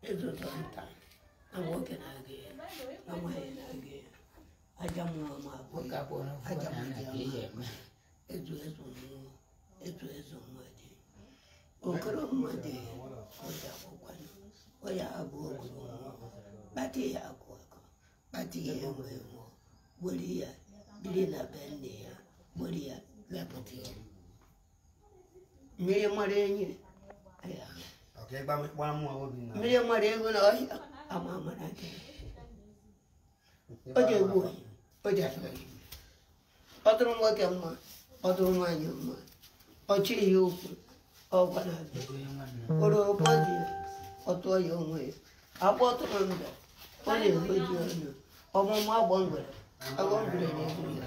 ezi ụzọ nta na nwoke na-aga ya na nwaanyị na-aga ya aja mmụọ ma ọ bụ Nwoke akwụrụ akwụkwọ aja na mụrụ ana ka ya ihe eme. ezu ezu mmụọ ezu ezu mmadụ okoro mmadụ ọja akwụkwọ ọ ya-abụ okoro mmụọ kpata ya akụ akụ kpata ya enwe enwe gbori ya dịrị na be nne ya gbori ya mepụta ya mmiri mara enyi ọka ịgba gbara mụ obi na mmiri mara ego na ọhịa ama ama na nke o ji egbu oyi o ji asọ oyi ọ dịrị nwoke mma ọ dịrị nwaanyị mma ọ chịrị ya okwu ọ gwara abịa ego ya nwanne kpọrọ ụgbọ dị ya ọ tụọ ya onwe ya agba tụrụ ndụ ọ na-egbu ji ọnụ ọmụmụ agba ngwere agba ngwere na-egbu ya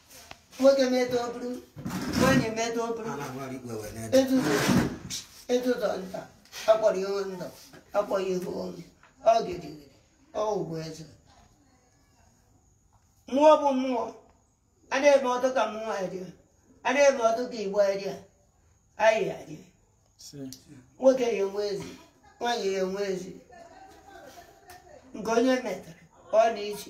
nwoke meta o buru nwanyị meta o buru a na-agbara igwe wee na-ede etuto etuto nta a kpọrọ ihu ndụ a kpọrọ ihu ọnwụ ọ gịrịgịrị ọ bụ eze mmụọ bụ mmụọ a na-ama atụ ka mmụọ adịa a na-ama atụ ka igbo adịa anyị adịa nwoke ya enwe ezi nwaanyị ya enwe ezi nke onye metara ọ na-eji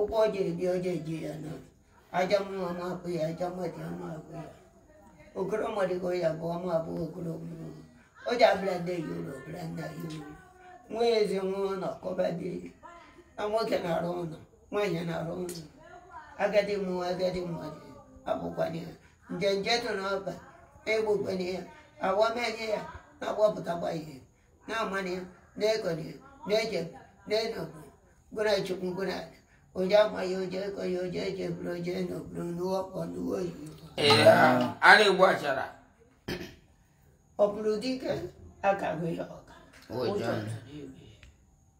ụgwọ o ji eji o ji eji ya na aja mmụọ ama akpụ ya aja mmadụ ama akpụ ya okoro mmadụ ka ọ ya-abụ ọ ma-abụ okoro mmụọ o ji abịa ndị yi ụlọ bịa ndị yi ụlọ nwa ezi nwa ụlọ ka ọba dị na nwoke na-arụ ụlọ nwaanyị na-arụ ụlọ agadi mmụọ agadi mmadụ abụkwanye ya nje nje tụ n'ọba na-egbukwanye ya awamanye ya na-agbapụtakwa ihe na-amana ya na-ekọna ya na-eche na-enọgbu gwara chukwu gwara ala oje ama ya oje ekọ ya oje echeburu oje nọburu n'ụwa igbo n'ụwa oyibo Ee, a na-egbu achara ọ bụrụ dị ka akago ya ọka Ụjọ. ụjọ tụrụ ya.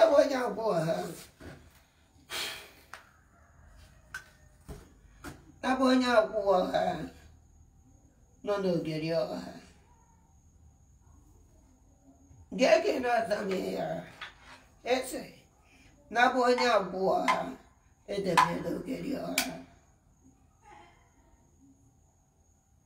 Ebe onye abụọ ha abụ onye akwụwa ọha nọ n'ogeri ọha gege na-azamị ya ese nabụ onye akwụwa ọha edebe n'ogeri ọha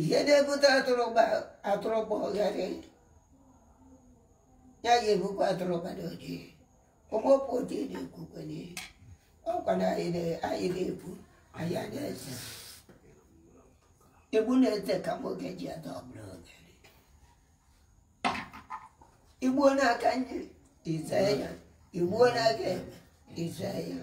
ihe na-ebute atụrụ gbagharị ya ga-ebukwa atụrụ gbara ojii ụmụpụ ojii na-ekwukwe n'ihe ọkwa na anyị na-egbu anyị na-eze igbu na-ete ka nwoke ji ada ọbụla oge i gbuo n'aka nri i zee ya i gbuo n'aka ekpe i zee ya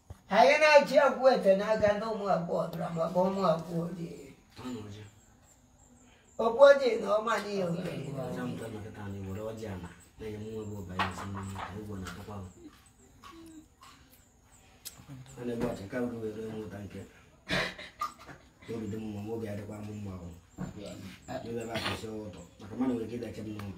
anyị na-achị akwụ ete n'aka ndị ụmụ akwụ ọdụra maka ụmụ akwụ ojii okwu ojii na ọma n'ihe okenye obi dị mma ma obi adịkwa m mma ahụ ebe ebe akwụsị ụtọ maka mmadụ nwere ike ịdachi m n'ụlọ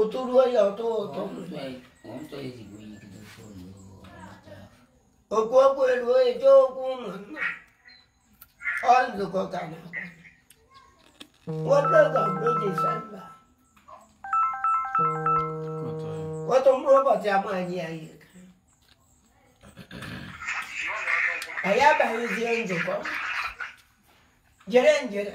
ụtụ ruo ya atụ ụtụ oku oku eruo eje oku ụmụnna ọ nzukọ ka a na-enwe oge disemba otu mkpụrụ ụbọchị amaghị ya ihe anyị abaghịzie nzukọ jere njere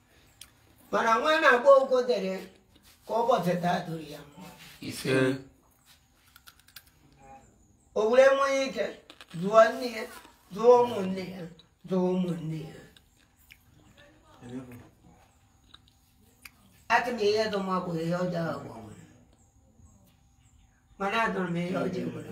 mana nwa na-akpọ okwudiri ka ụbọchị taa dụrụ ya mma ise o were nwee ike zụọ nne ya zụọ ụmụnne ya zụọ ụmụnne ya atụ m ihe dụ m abụghị ihe ọjọọ agwa nwere mana adụrụ m ihe ọjọọ nwere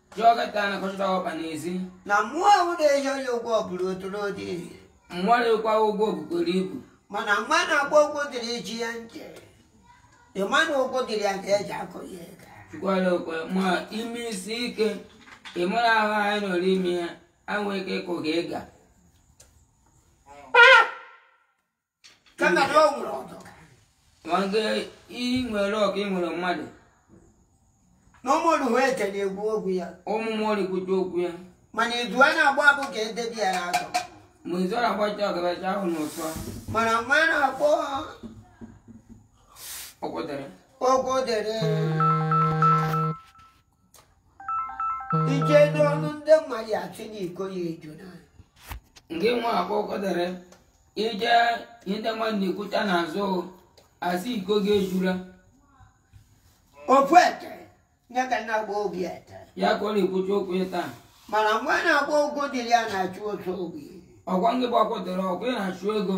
Jụọ nkịta na kọchịta ọkpa n'ezi. Na mmụọ ahụ na-ehi onye ụgwọ bụrụ otoro dị. Mmụọ na-ekwa ụgwọ bukwara ibu. Mana nwa na-akpọ Okwudiri ji ya ntị. Ịma na Okwudiri ga-eji akụ ya ego. Chukwuala okwe ma ime isi ike ịmụrụ ahụ anyị nọrọ ime ya anwụ ike kụ gị ịga. ka nna dị ọgwụ nwere ọdọ ma nke ị nwere ọka ị nwere mmadụ na ụmụrụ hụ ete na-ekwu okwu ya ụmụ mmụọ na-ekwucha okwu ya mana izu a na-agba abụ ka edebi ya n'azụ ma izu ọ na-agbacha ọgabacha ahụ n'ụtọ mana nwa na-akpọ okwudiri okwudiri ije n'ọnụ ndị mmadụ asị na iko ya ejuna nke nwa a kpọ okwudiri ije ihe ndị mmadụ na-ekwucha n'azụ asị iko gị ejula ofu ete nye ka na-agba obi ete ya ka ọ na-ekwucha okwu ya taa mana nwa a na-akpọ okwudiri ya na-achụ otu obi ọkwa ngị bụ okwudiri ọkwa ị na-achụ ego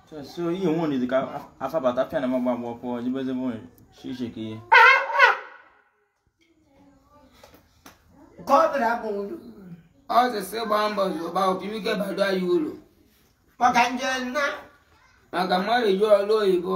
so ihe onwe onye dịka afabata pịa na magba agba pụọ jibezebe onye shishi ka ihe nke ọ bụla bụ ndụ ọ sị sị gbaa mbọ zụba otu ike bado anyị uru maka nje nna maka mmadụ ji ọrụ oyibo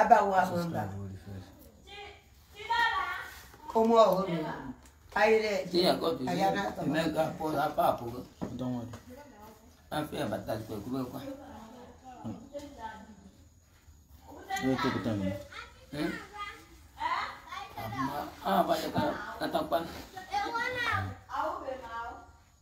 abawo ahụ mba ụmụ ọhụrụ anyị na-eji anyị na-atọ Ah, banyak kata pan.